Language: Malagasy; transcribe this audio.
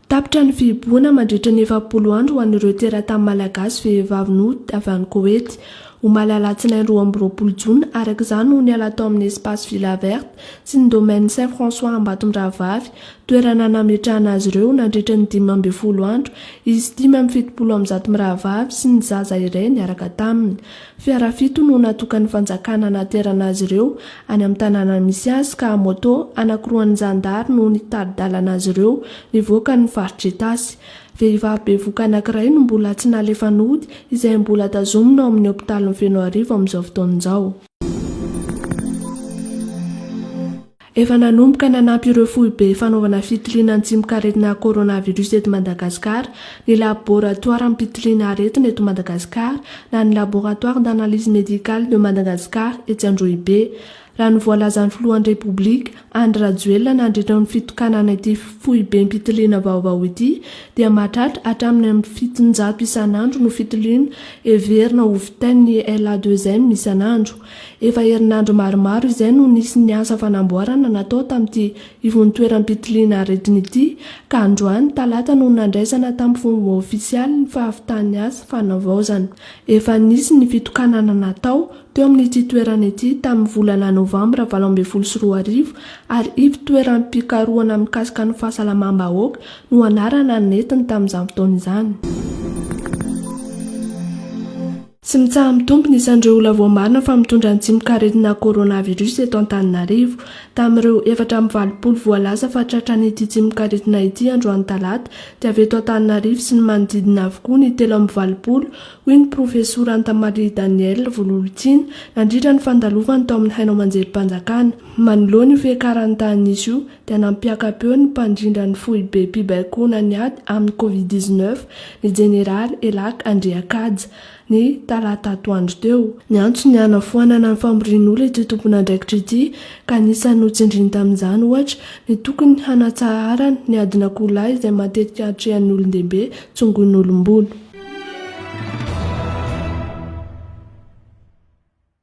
Tapitra ny fihibohana mandritra ny efapolo andro ho an'ireo teratany malagasy vehivavy nody avy any Koety, omaly alatsinainy roa amby roapolo jona, araka izany no niala tao amin'ny Espace Villa Verte sy ny Domaine Saint François Ambatondrahavavy, toerana nametrahana azy ireo nandritra ny dimy ambin'ny folo andro, izy dimy amby fitopolo amby zato mirahavavy sy ny zaza iray niaraka taminy. Fiara fito no natokan'ny fanjakana hanaterana azy ireo any amin'ny tanàna misy azy ka moto anankiroan'ny zandary no nitari-dalana azy ireo nivoaka ny faritr'Itasy. Vehivavy bevoka anankiray no mbola tsy nalefa nody izay mbola tazomina ao amin'ny hopitalin'i Fenoarivo amin'izao fotoana izao. Efa nanomboka nanampy ireo foibe fanaovana fitiliana ny tsimok'aretina coronavirus eto Madagasikara ny laboratoaram-pitiliana aretina eto Madagasikara na ny Laboratoire d'analyse médicale de Madagascar etsy Androhibe, raha ny voalazan'ny filohan'ny Repoblika, Andry Rajoelina nandritra ny fitokanana ity foibem-pitiliana vaovao ity dia mahatratra hatramin'ny amin'ny fitonjato isan'andro no fitiliana heverina ho vitain'ny LA2M isan'andro. Efa herinandro maromaro izay no nisy ny asa fanamboarana natao tamin'ity ivontoeram-pitiliana aretina ity ka androany talata no nandraisana tamin'ny fomba ofisialy ny fahavitan'ny asa fanavaozana. Efa nisy ny fitokanana natao teo amin'ity toerana ity tamin'ny volana novambra valo ambin'ny folo sy roa arivo ary ivontoeram-pikarohana mikasika ny fahasalamam-bahoaka no anarana nentiny tamin'izany fotoana izany. Tsy mitsaha-mitombo ny isan'ireo olona voamarina fa mitondra ny tsimokaretina coronavirus eto Antananarivo. Tamin'ireo efatra amby valopolo voalaza fa tratran'ity tsimokaretina ity androany talata dia avy eto Antananarivo sy ny manodidina avokoa ny telo amby valopolo, hoy ny profesora Antamarie Daniel Vololontiana nandritra ny fandalovany tao amin'ny haino aman-jerim-panjakana manoloana io fiakaran'ny tahanisa io. dia nampiaka-peo ny mpandrindra ny foibem-pibaikoana ny ady amin'ny Covid dix neuf, ny jeneraly Elac Andriakaja, ny talata atoandro teo. Niantso ny hanafoanana ny famorian'olona ity tompon'andraikitra ity ka anisan'ny notsindriny tamin'izany, ohatra, ny tokony hanatsaharana ny adin'akoho lahy izay matetika atrehan'ny olon-dehibe tsongoin'olom-bolo.